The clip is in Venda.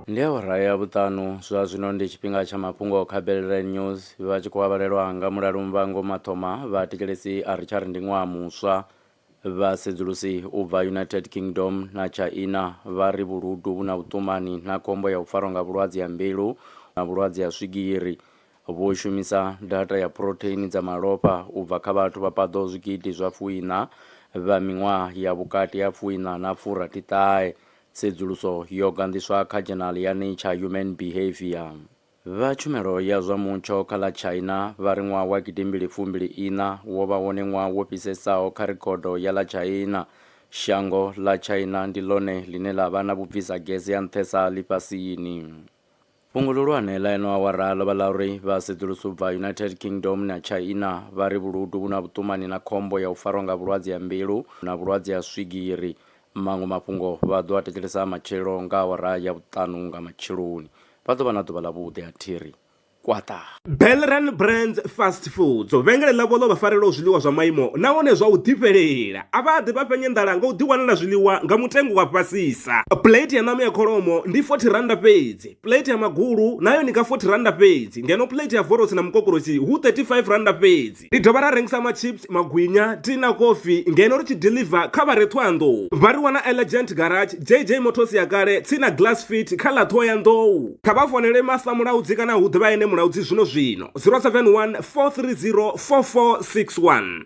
ndi awara ya vhuṱanu zwa zwino ndi tshifhinga tsha mafhungo kha belre news vha tshi khou avhalelwa nga mulalo mvango mathoma vha tikelesi a ri tshari ndi ṅwaha muswa vha sedzulusi u bva united kingdom na china vha ri vhuludu vhu na vhuṱumani na khombo ya u farwa nga vhulwadze ya mbilu na vhulwadze ya swigiri Vho shumisa data ya phurotheini dza malofha u bva kha vhathu vha paḓaho zwigidi zwa fuiṋa vha miṅwaha ya vhukati ha fuiṋa na furathiṱahe, tsedzuluso yo ganḓiswa kha dzhenali ya Nature Human Behaviour. Vha tshumelo ya zwa mutsho kha ḽa China vha ri ṅwaha wa gidimbili fumbili iṋa wo vha wone ṅwaha wo fhisesaho kha rekhodo ya ḽa China. Shango ḽa China ndi ḽone ḽine ḽa vha na vhubvisa gese ha nṱhesa ḽifhasini. Fhungo ḽihulwane ḽa eno awara ḽo vha ḽa uri vhasedzulusi u bva United Kingdom na Tshaina vha ri vhuludu vhu na vhuṱumani na khombo ya u farwa nga vhulwadze ha mbilu na vhulwadze ha swigiri. Maṅwe mafhungo vha ḓo a thetshelesa matshelo nga awara ya vhuṱanu nga matsheloni. Vha ḓo vha na ḓuvha ḽavhuḓi a thi ri kwaṱa! Belran Brands Fast Foods vhengele ḽavho ḽo vha farelaho zwiḽiwa zwa maimo nahone zwa u ḓifhelela a vha ḓi vha fhenye nḓala nga u ḓiwanela zwiḽiwa nga mutengo wa fhasisa plate ya ṋama ya kholomo ndi 40 randa fhedzi plate ya magulu nayo ni nga 40 randa fhedzi ngeno plate ya vorosi na mukokorosi hu 35 randa fhedzi Ri dovha ra rengisa machips, magwinya, tea na kofi ngeno ri tshi deliver kha vha re Thohoyandou. Vha ri wana Elegant Garage, JJ Motors ya kale, tsini na Glass Fit kha ḽa Thohoyandou. Kha vha founele Master Mulaudzi kana hu ḓe vha ene Mulaudzi zwino zwino, 071 430 4461.